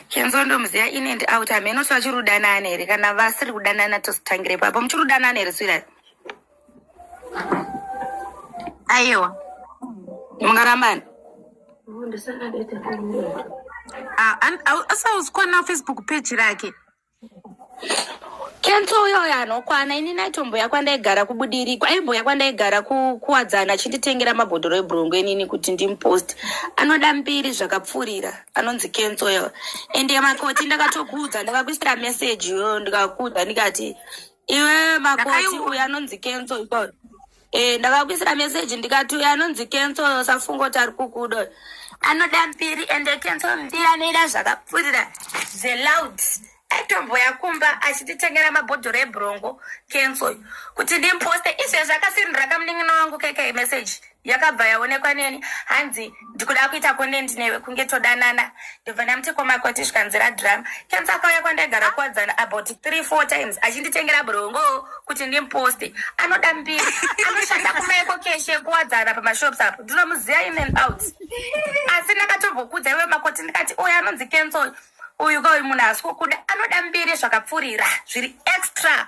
Kenzo ndomuziva in and out hameno kuti vachiri kudanana here kana vasiri kudanana tositangire papo muchiri kudanana here swira aiwa mungarambana asauzi kuona facebook page rake kenso uyo uyo anokwana ini naitomboya kwandaigara kubudirikwa aimboya kwandaigara kuwadzana achinditengera mabhodhoro ebhurungu enini kuti ndimupost anoda mbiri zvakapfuurira anonzi kenso uyo ende makoti ndakatokuudza ndakakuisira meseji iyoyo ndikakuudza ndikati iwe makoti uyo anonzi kenso ikoo Eh, ndakakuisira message ndikati uyo anonzi cancel usafunga kuti ari kukuda uyo anoda mbiri and cancel mbiri anoida zvakapfurira zveloud aitomboya kumba achititengera mabhodhoro ebrongo cancel uyo kuti ndimposte izvezvi akasirindira kamunin'ina wangu keke message yakabva yaonekwa neni hanzi ndikuda kuita content newe kunge todanana ndobva ndamuti komakoti zvikanzira drama kenzi akauya kwandaigara kuwadzana about three four times achinditengera brongo kuti ndimposte anoda mbiri anoshanda kumaiko keshe kuwadzana pamashops apo ndinomuziva in and out asi ndakatombokuudza iwe makoti ndikati oyo anonzi kenzi oyo uyu ka uyu munhu asikukuda anoda mbiri zvakapfurira zviri extra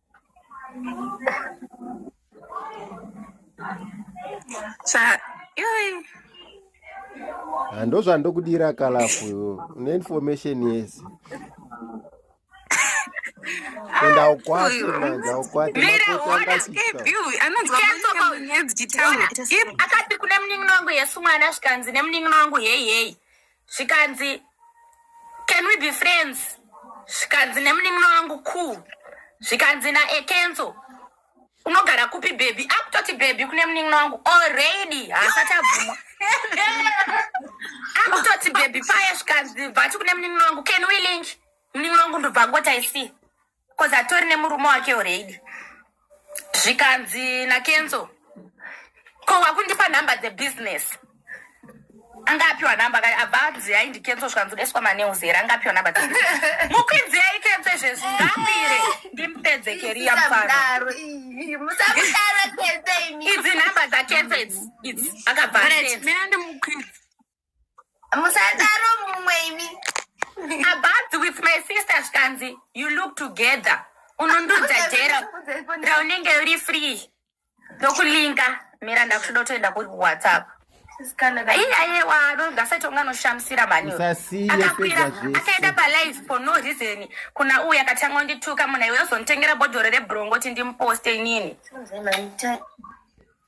Sa yoi. Ah, ndozvandokudira kalafu une information yese enda ukwate manja ukwate Mira, makoti what is angasisa keep you? Anonzwa Cancel manyika call. munyedzi chitaura. If akati kune munin'ina wangu yesu mwana zvikanzi nemunin'ina wangu heyi heyi zvikanzi can we be friends zvikanzi nemunin'ina wangu cool zvikanzi naekenzo unogara kupi bhebhi akutoti bhebhi kune munin'ina wangu already haasati abvuma akutoti bhebhi paye zvikanzi bvati kune munin'ina wangu can we link munin'ina wangu ndobva ngoti i see bcoz atori nemurume wake already zvikanzi nakenzo ko wakundipa nhamba dzebusiness anga apiwa nhamba kai abva anzi yai ndikenzo zvikanzi deswa manews here anga apiwa nhamba mukwidzi yai kenzo izvezvi ngapire ndimupedze keriya mfaro idzi nhamba dzakenzo idzi idzi akabva aenda musadaro mumwe imi ababs with my sister zvikanzi you look together unondudza jera raunenge uri free ndokulinka mira ndakutoda kutoenda kuri kuwhatsapp aiyewa anongasati onga anoshamisira maniakaenda palive for no reason kuna uyu akatanga undituka munhu aiwe ozonditengera bodhoro rebrongo kuti ndimuposte inini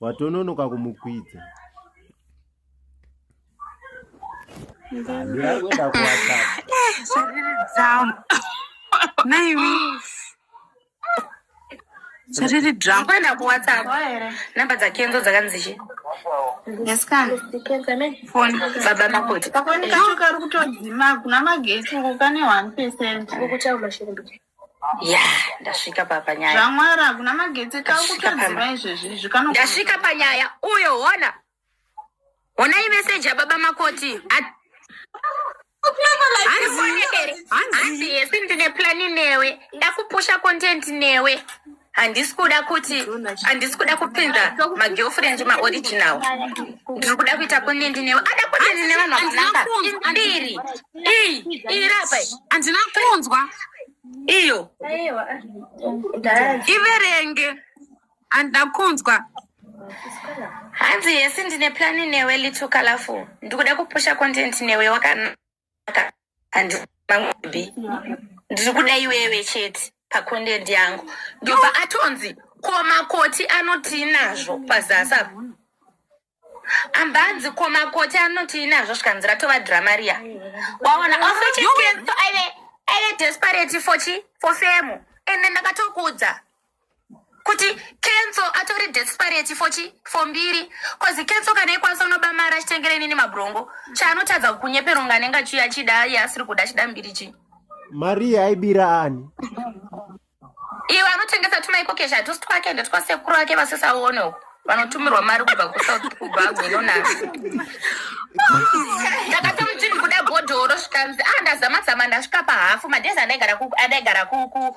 watononoka kumukwidza ndirakuenda kuwhatsapp naiwi zviriri drama kuenda kuwhatsapp namba dzakenzo dzakanzi chi baba makoti kakuoneka kari kutodzima kuna magetsi uko kane one percent ya ndasvika papa nyaya zvamwari hakuna magetsi kakutoziva izvezvi izvi kano ndasvika panyaya uyo hona honai meseji yababa makoti hanzi yesi ndine plani newe ndakupusha content newe handisi kuda kuti handisi kuda kupinza magirlfriend maoriginal ndiri kuda kuita kunendi newe ada kunendi nevanhu vakanambiri iyi iyi rapa handina kunzwa iyo iverenge handina kunzwa hanzi yesi ndine plani newe little colorful ndikuda kupusha content newe wakanaka saka handimbi ndiri kuda iwewe chete pacontent yangu ndobva atonzi ko makoti anotii nazvo pazasi apa ambanzi ko makoti anotii nazvo zvikanzi ratova drama riya waona ofechekenso aive aive desperate for chi for femu ende ndakatokudza kuti kenso atori desperate for chi for mbiri bcause kenso kana ikwanisa unoba mari achitengera inini mabrongo chaanotadza kunyeperonga anenge achiuya achida iye asiri kuda achida mbiri chi mari yaibira ani iwe anotengesa tuma iko kesha hatusi twake ende twasekuru ake vasisaone uko vanotumirwa mari kubva kusouth kubva agwinonana ndakatomutini kuda bhodhoro zvikanzi a ndazamazama ndasvika pahafu madhezi andaigara ku- andaigara ku- ku-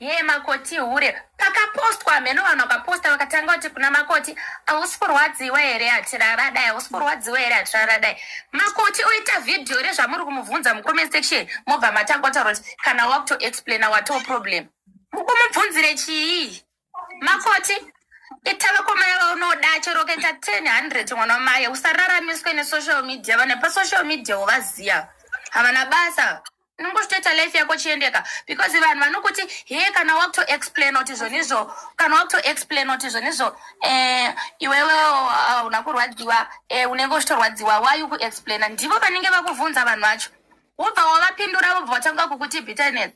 Yee makoti ihure. Pakapostwa hameno vanhu vakaposta vakatanga kuti kuna makoti hausi kurwadziwa here hatirara dai hausi kurwadziwa here hatirara dai. Makoti oita vhidhiyo rezvamuri kumubvunza mucomment section mobva matanga kutaura kuti kana wakutoexplaina watoo problem. Mukumubvunzire chii? Makoti ita vakomana vaunoda chero ukaita 1000 mwana wamaye usararamiswe nesocial media vanhu pasocial media wovaziva havana basa unongostoita life yako chiendeka because vanhu vanokuti he kana wakutoexplain kuti zvonizvo kana wakutoexplain kuti zvonizvo um eh, iwewe ah, una kurwadziwa um unenge uchitorwadziwa why ukuexplaina ndivo vanenge vakuvhunza vanhu vacho wobva wavapindura vobva vatanga kukuti bitterness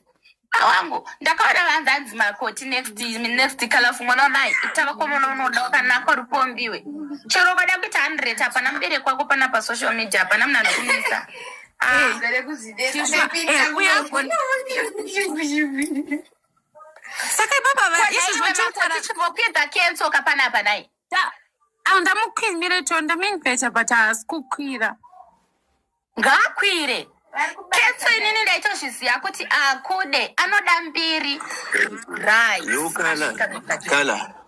ah, wangu ndakaona vanzi hanzi makoti next next kalafu mwana wamai itava kwamwana unoda wakanaka uri kuombiwe chero ukada kuita hundred hapana mubereki wako pana pasocial media hapana munhu anokunisa saka ibaba vaizvozvachipopedza kenso kapana apa nai andamukwimire to ndamengeta but haasi kukwira ngaakwire ketso inini ndaitozviziva kuti akude anoda mbiri rai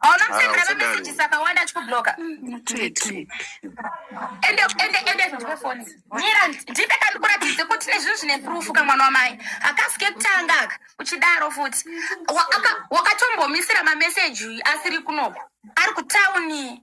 hauna kusendera mameseji saka wanda achikubloka ende ende ende ndipe foni mira ndipe kandikuratidze kuti nezvinhu zvine proof kamwana wamai akasike kutanga aka uchidaro futi wakatombomisira mameseji asiri kunoko ari kutauni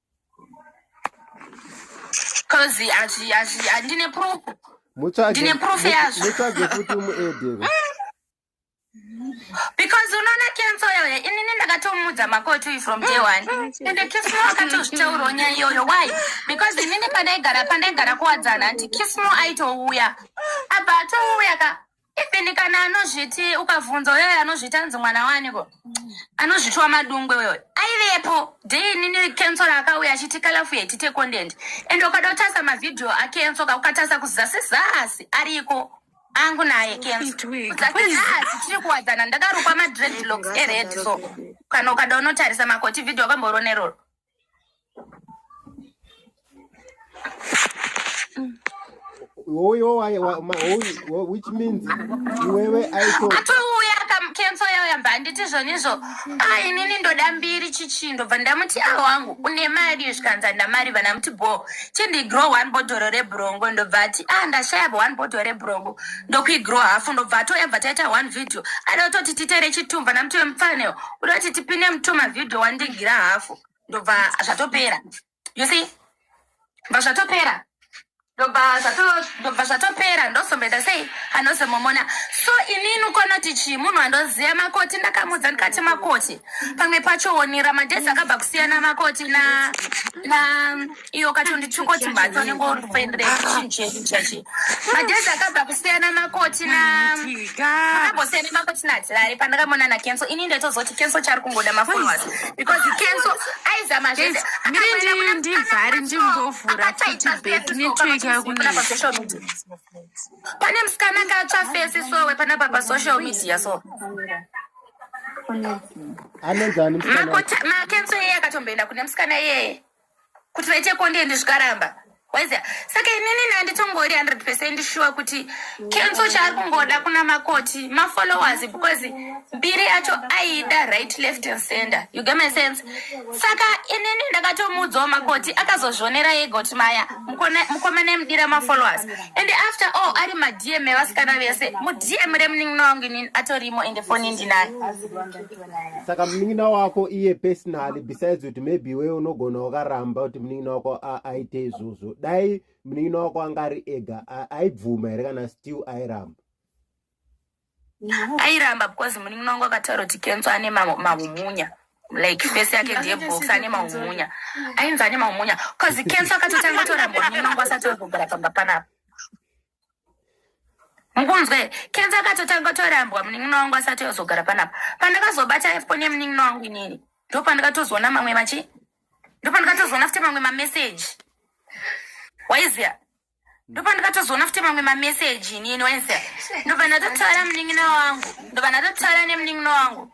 coz handine proof ndine proof yazvo mutsvage futi muedeve because unoona kenso yoyo inini ndakatomudza makoti uyu from day one ende kismo akatozvitaurawo nyaya iyoyo why because inini pandaigara pandaigara kuwadzana hanti kismo aitouya abva atouya ka even kana anozviti ukavhunza uyoyo anozviti anzi mwana waniko anozvitiwa madungwe uyoyo aivepo dei nini kensora akauya achiti kalafu yetite content and ukada kutasa mavhidhiyo akensoka ukatasa kuzasi zasi ariko angu naye kenzasi tiri kuwadzana ndakarukwa madredlocks ered so kana ukada unotarisa makoti vhidhiyo akamborona iroro Oyo waye wa ma oyo which means iwewe aito atouya cancel yawo yamba handiti zvonizvo ah inini ndoda mbiri chichi ndobva ndamuti awo ah, wangu une mari zvikanza ndamari vana muti bo chindigrow one bodhoro rebrongo ndobva ati ah ndashaya bo one bodhoro rebrongo ndokuigrow hafu ndobva atoyabva taita one video ada kutoti titere chitumba namuti wemupfaneo kuda kuti tipinde mutoma video wandingira hafu ndobva zvatopera you see bva zvatopera ndobva zvato- ndobva zvatopera ndozomboita sei anozomomona so inini ukonoti chii munhu andoziva makoti ndakamudza ndikati makoti pamwe pacho wonira madhezi akabva kusiyana makoti na na iyo katundi tukoti mbatso unenge uri kuendere chinhu chedu chachi madhezi akabva kusiyana makoti naambosiyana makoti natirare pandakamona nakenso ini ndaitozoti kenso chari kungoda mafollowers because kenso aizama zvese ndivhari ndimbovhura futi back network yakunapasocial media pane musikana akatsva fesi sowe panapa pasocial media so anenzani makenso iyeye akatomboenda kune musikana iyeye kuti vechekonde ndi zvikaramba waiziva saka inini nanditongori 100 percent shuwa kuti kenso chaari kungoda kuna makoti mafollowers because mbiri yacho aida right left and center you get my sense saka inini ndakatomuudzawo makoti akazozvionera yega kuti maya mukomana emudira mafollowers and after all ari madm evasikana vese mudm remunin'ina wangu inini atorimo ende foni ndinayo saka munin'ina wako iye personally besides kuti maybe iwe unogona wakaramba kuti munin'ina wako aite izvozvo dai munin'ina wako anga ari ega aibvuma here kana still airamba airamba because munin'ina wangu akataura kuti kenso ane mahumunya like face yake ndiye box ane mahumunya ainzi ane mahumunya bcause kenso akatotanga toramba munin'ina wangu asati ogogara pamba panapa mukunzwa here kenza akatotanga torambwa munin'ina wangu asati ozogara panapa pandakazobata foni yemunin'ina wangu inini ndo pandikatozoona mamwe machi ndo pandikatozoona futi mamwe mameseji waiziya ndo pandikatozoona futi mamwe mameseji inini waiziya ndo pandatotaura munin'ina wangu ndo pandatotaura nemunin'ina wangu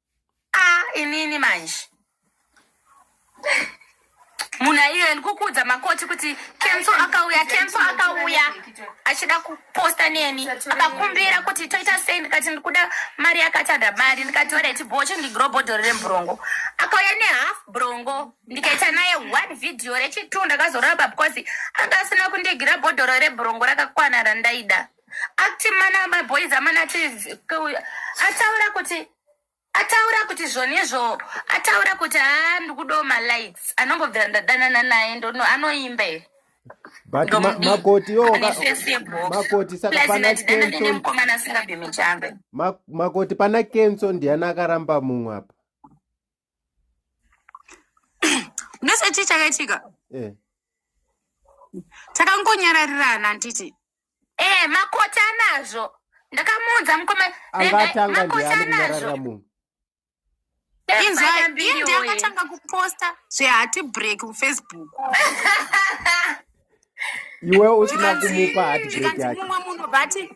Ah, inini manje munhu aiyo ndikukuudza makoti kuti kenso akauya kenso akauya achida kuposta neni akakumbira kuti toita sei ndikati ndikuda mari yakatada mari ndikati oraiti bho chindigrobhodhoro remburongo akauya nehalf brongo ndikaita naye one video rechitunda akazoraba because anga asina kundigira bhodhoro rebrongo rakakwana randaida Ati mana my boys amana ati ataura kuti ataura kuti zvonezvo ataura kuti haa ndikudawo malights anongobvira ndadanana naye ndono anoimba here but makoti yomakoti saka pana kensonemukomana asingabhemi chambe makoti pana kenso ndiani akaramba mumwe apa ndose chii chakaitika eh. takangonyararirana handiti e eh, makoti anazvo ndakamuudza mukoma makoti anazvo inzwaindiakatanga kuposta zvehati break kufacebook iwe usina kumupa hatbreak yake mumwe munhu vati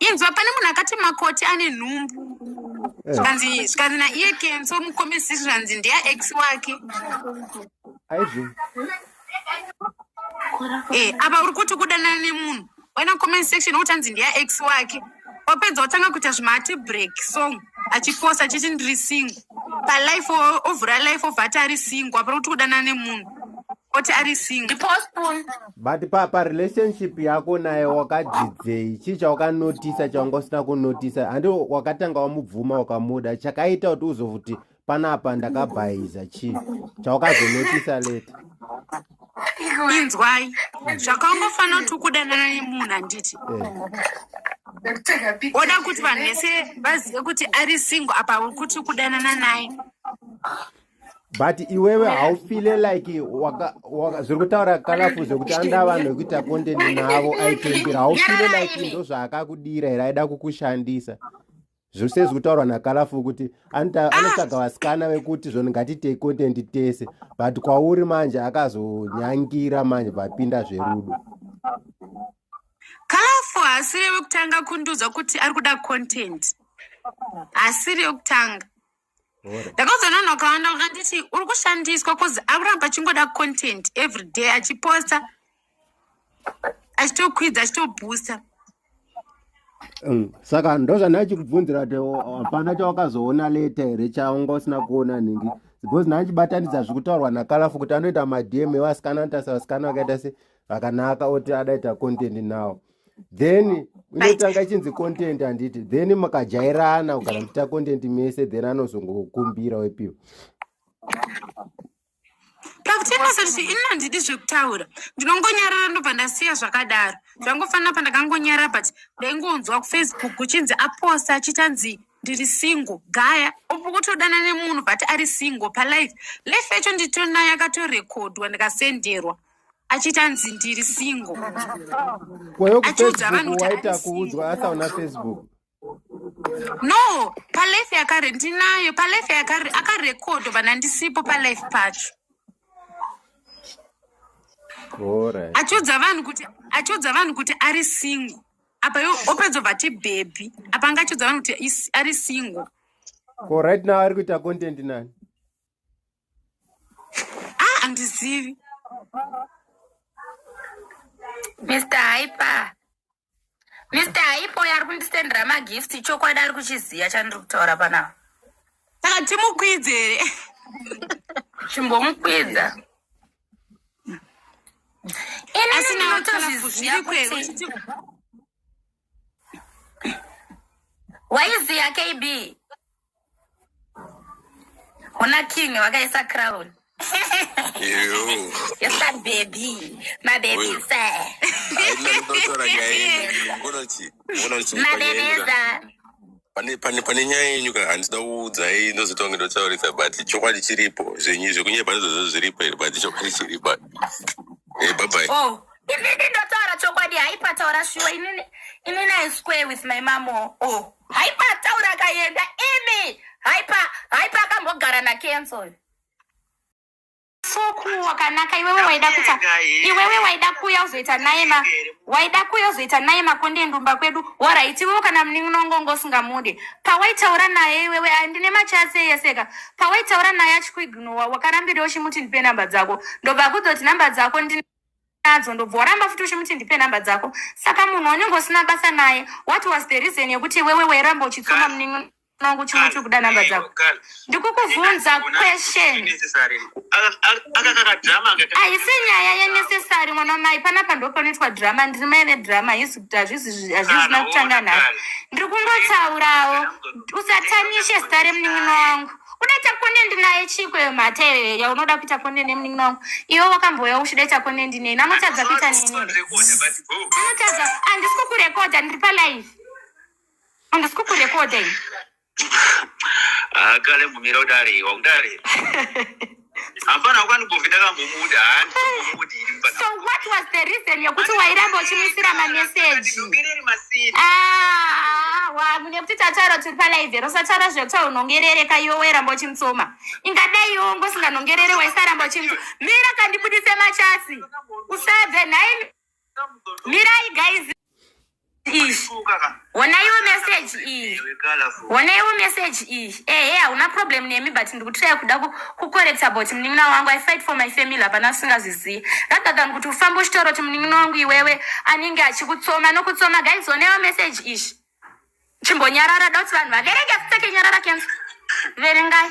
inzwa pane munhu akati makoti ane nhumbu eh. zvikanzi zvikanzi naiye kenso mukomesi zvikanzi ndeya ex wake aizvi e eh, apa uri kuti kudanana nemunhu waina comment section wotanzi ndeya ex wake wapedza wotanga kuita zvimati break song achiposa achiti ndiri singo palife ovhura life ovati ari singo apa uri kuti kudanana nemunhu oti ari single ndipo spoon but pa pa relationship yako naye wakadzidzei chii chawakanotisa chawanga usina kunotisa handi wakatanga wamubvuma wakamuda chakaita kuti uzovuti panapa ndakabhaiza chii chawakazonotisa late inzwai zvakaungofanira kuti ukudanana nemunhu handiti eh. oda kuti vanhu vese vazive kuti ari single apa uri kuti ukudanana naye but iwewe haufile like zviri kutaura kalafu zvekuti anda vanhu vekuita content navo aitembira haufile like ndo zvaakakudira here aida kukushandisa zvose zviri kutaurwa nakalafu kuti anotsvaga vasikana vekuti zvoni ngatiitei content tese but kwauri manje akazonyangira manje vapinda zverudo kalafu haasiri wekutanga kundiudza kuti ari kuda content haasiri wekutanga ndakazononoka vana vakanditi uri kushandiswa bcause akuramba achingoda content every day achiposta achitokwidza achitobhusta mm, saka ndozvandai chikubvunzira kuti hapana chawakazoona leta here chaunga usina kuona nhingi because nai chibatanidza zviri kutaurwa nakalafu kuti anoita madm evasikana anotarisa vasikana vakaita se vakanaka oti adaita content now then inotanga chinzi content handiti then makajairana ukana muchiita content mese then anozongokumbira wepiwa pakutengesa kuti ini handidi zvekutaura ndinongonyarara ndobva ndasiya zvakadaro zvangofanira pandakangonyarara but ndaingonzwa kufacebook kuchinzi aposta achitanzi ndiri single gaya upo kutodana nemunhu but ari single palife life yacho nditonayo akatorekodwa ndikasenderwa achiti anzi ndiri single kweyo Achiudza vanhu kucirikuwa kuti aita ari kuudzwa single. asaona facebook no palife yakare ndinayo palife yakare akarekodho vana ndisipo palife pacho orit achiudza vanhu kuti achiudza vanhu kuti ari single apa yo opedza vati bhebhi apa anga achiudza vanhu kuti is- ari single ko right now ari kuita content nani ah andizivi mr hyper mr hyper uyo ari kundisendera magift chokwadi ari kuchiziva chandiri kutaura panapa saka timukwidze here chimbomukwidza asi nawo kana kuzviri kwewe waiziya kb hona king wakaisa crown baby mabebisaunoti pane pane pane nyaya yenyu ka handisida kuudzai ndozoti wange ndotaurisa but chokwadi chiripo zvenyu zvekunyepa ndizvozvo zviripo here but chokwadi chiripo Eh, bye bye oh inini ndotaura chokwadi haipataura shuwa inini inini i square with my mom oh, oh. haipataura akaenda imi haipa haipa akambogara nakenzo uyu soku wakanaka iwewe waida kuta iwewe waida kuya uzoita naye ma waida kuya uzoita naye makonde ndumba kwedu waraiti iwewe kana munin'inongongo usingamude pawaitaura naye iwewe andine machasi eyeseka pawaitaura naye achikuignowa wakarambira uchimuti ndipe namba dzako ndobva kuzoti namba dzako ndine nadzo ndobva waramba futi uchimuti ndipe nhamba dzako saka munhu wanenge usina basa naye what was the reason yekuti iwewe wairamba uchitsoma munin'ino mangu chimwe chiri kuda namba dzako ndikukubvunza question haisi nyaya yenecessary mwana wamai panapa ndo panoitwa drama ndiri mai vedrama hisi kuti hazvizina kutanga nhasi ndiri kungotsaurawo usatanishe zita remunin'ina wangu udaita konendi naye chiko iyo mhata iyoyo yaunoda kuita konendi nemunin'ina wangu iwe wakambouya uchidaita konendi neni anotadza kuita nini anotadza handisi kukurekodha ndiri palive Handisi kukurekodha ini. Akale ah, mumira udare wakudare. Hapana kwani govi ndakambomuda handi kumudi iri mfana. So what was the reason yekuti wairamba uchimuisira ma message? Ah, wa mune kuti tataura tiri pa live ro satara zve kuti unongerere ka yowe ramba uchimutsoma. Ingadai yowe ngosinganongerere waisaramba uchimutsoma. Mira kandibudise machasi. Usave nhaimi. mirai guys wonaiwo message iyi wonaiwo message iyi ehe hauna problem nemi but ndikutiraya kuda kukorekta about munin'ina wangu i fight for my family hapana usingazvizivi ragagan kuti ufambe uchitaura kuti munin'ina wangu iwewe anenge achikutsoma nokutsoma guys wonaiwo message izvi chimbonyarara da kuti vanhu vaverenge futseke nyarara kenso verengai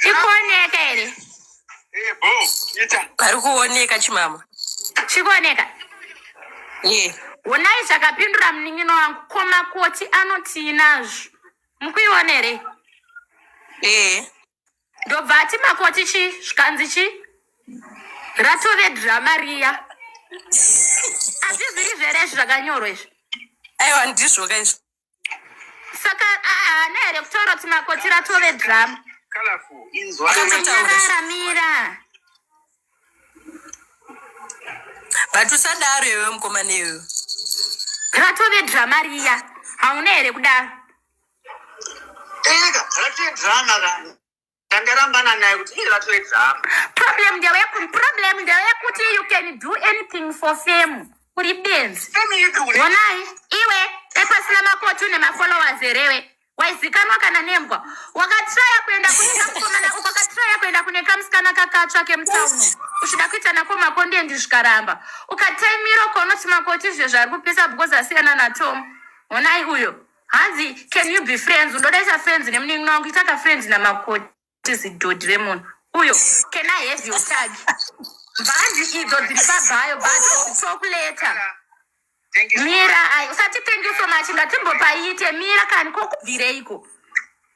Chikuoneka here? Pari kuoneka chimama. Chikuoneka? Ye. Honai zvakapindura munin'ino wangu ko makoti anotii nazvo? Mukuiona here? Ye. Ndobva ati makoti chi zvikanzi chi ratove drama riya. Azviziri zvere izvi zvakanyorwa izvi. Aiwa ndizvo ka izvi. saka haana here kutaura kuti makoti ratove drama inzwaararamira but usadaro iwe mukomana iwe ratove drama riya hauna here kudaro ndarambana naye kuti iye vatore drama problem ndeyekuti problem ndeyekuti you can do anything for fame uri benzi onai iwe epasina makotu nemafollowers erewe waizikanwa kana nembwa wakatraya kuenda kunekamkomana ukakatraya kuenda kune kamusikana kakatsva kemutauno uchida kuita nako makondendi zvikaramba ukataimiro konoti makoti zvezvari kupisa because asiyana natom onai uyo hanzi can you be friends undodaisa friends nemunin'ina wangu itaka friends namakoti zidhodhi remunhu uyo can i have your tag mhanzi idzo dziri pabhayo but talk later mira ai usati thank you so much ngatimbopaite mira kani kokubvireiko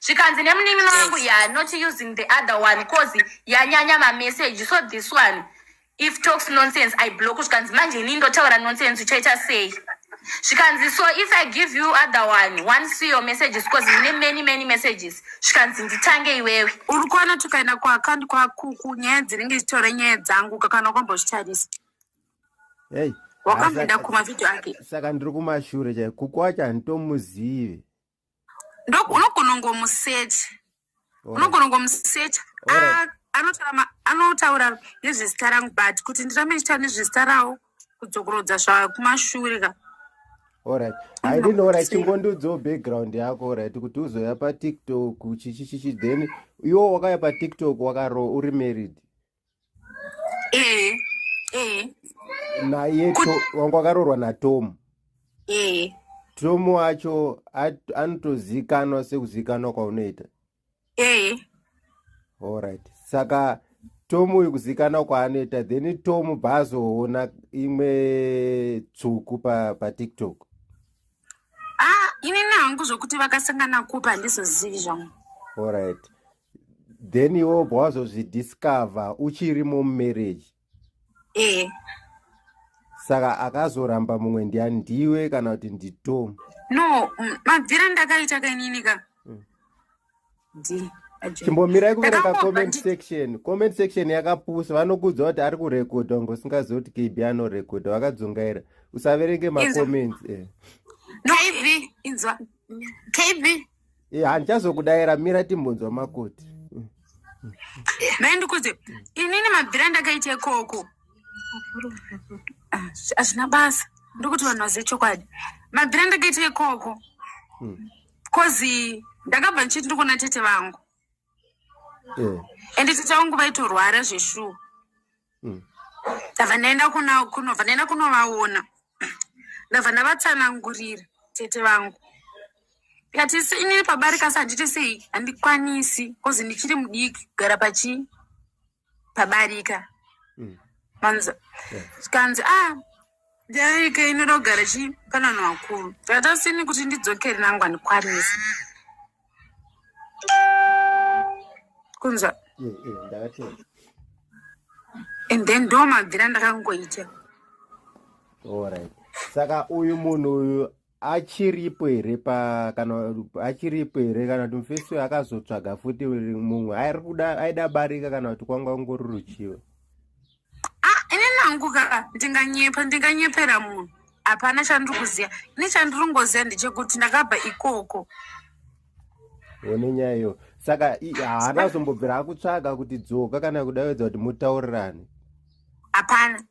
zvikanzi nemunin'ina wangu ya not using the other one cause yanyanya mamessage so this one if talks nonsense i block zvikanzi manje ini ndotaura nonsense uchaita sei zvikanzi so if i give you other one one see your messages cause mune many many messages zvikanzi nditange iwewe uri kuona tukaenda kuaccount kwakuku nyaya dzinenge zvitora nyaya dzangu kakana kwambozvitarisa hey wakamboenda kumavhidhio ake saka ndiri kumashure chai kuku wacho handitomuzivi unogona ngomusecha unogona ngomusecha ah, anotaura nezvezita rangu but kuti ndirambe ndichitaura nezvezita rawo kudzokorodza zvakumashure ka orit i didn't know right chingondiudzawo background yako orit kuti uzoya patiktok chichichichi then iwo wakaya patiktok wakaro uri married Eh, eh. naye To- wangu akaroorwa natom Eh. tom wacho at- anotozikanwa sekuzikanwa kwaunoita Eh. alright saka tom uyu kuzikanwa kwaanoita then tom bva azoona imwe tsvuku pa, pa tiktok Ah, inini hangu zvokuti vakasangana kupi handizozivi zvangu. alright then iwe obva wazozvidiscover uchiri mumarriage ee saka akazoramba mumwe ndiani ndiwe kana kuti nditom no mm, mabvira ndakaita kainini ka Mm. Ndi- aje. chimbomirai kuverenga Ndakangobva comment ndi- section comment section yakapusa vanokuudza kuti ari kurekodha unge usingazivi kuti kb anorekodha vakadzungaira usaverenge Inzwa. macomments eh. no inzwa kb Eh, handichazokudaira mira timbonzwa makoti dai ndikuudze inini mabvira ndakaita ikoko Ah, hazvina basa ndokuti vanhu vazive chokwadi mabvira ndakaita ikoko bcozi ndakabva ndichiti ndikuona tete vangu Eh, ende tete vangu vaitorwara zveshuwa mm. ndabva ndaenda kunobva ndaenda kunovaona ndabva ndavatsanangurira tete vangu ndikati inini pabarikasi handiti sei handikwanisi bcause ndichiri mudiki kugara pachii pabarika mm. manza zvikanzi yeah. ah Derike inoda kugara chipanano vakuru vatasini kuti ndidzokere nangwa ndikwanise kunzwa eh, eh, and then ndo mabvira ndakangoita saka uyu munhu uyu achiripo here pa kana achiripo here kana kuti mufesi uyo akazotsvaga futi mumwe airikuda aida barika kana kuti kwanga ungori ruchiva Ah, ini nangu ka ndinganyepa ndinganyepera munhu hapana chandiri kuziva ini chandiri kungoziva ndechekuti ndakabva ikoko one nyaya iyo saka i- haana kuzombobvira akutsvaga kuti dzoka kana kudaiwedza kuti mutaurirane hapana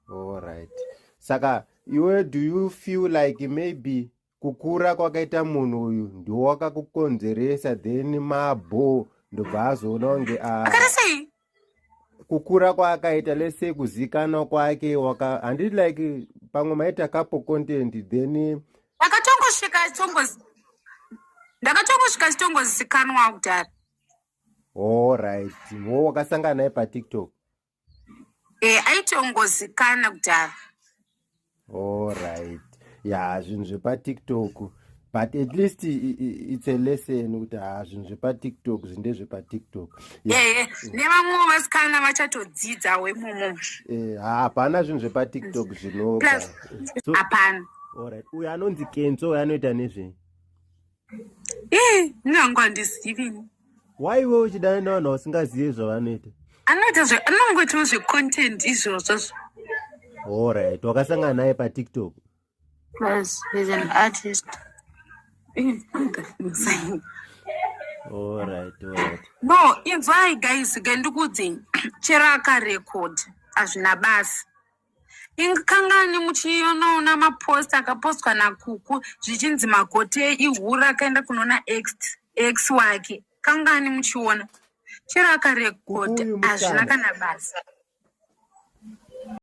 all right saka iwe do you feel like maybe kukura kwakaita munhu uyu ndiwo wakakukonzeresa then mabho ndobva azoona kunge ah, kukura kwaakaita lese kuzikanwa kwake waka handiti like pamwe maita kapo content then ndakatongosvika ndakatongosvika chitongozikanwa kudhara all right wo wakasangana naye patiktok Eh, aitongozikana kudhara alright ya zvinhu zvepatiktok but at least i- i- it's a lesson kuti ha zvinhu zvepatiktok zvinde zvepatiktok ya Eh, eh, nevamwewo vasikana vachatodzidza wemumo eh, ha- hapana zvinhu zvepatiktok plus zvinoga so hapana alright uyo anonzi kenso uyo anoita nezvei Ii, nyangu handizivi ini. why iwe uchidana nevanhu ausingazive zvavanoita Anoita zve anongoitawo zvecontent izvozvo. allright wakasangana naye patiktok Plus he's an artist. Ii, ndakuzai. allright allright No, inzwai guys, ke ndikuudzei. Chero akarecord hazvina basa. ingikangani muchionoona mapost akapostwa nakuku zvichinzi magote ihura akaenda kunoona x x wake kangani muchiona chero akarekodha hazvina kana basa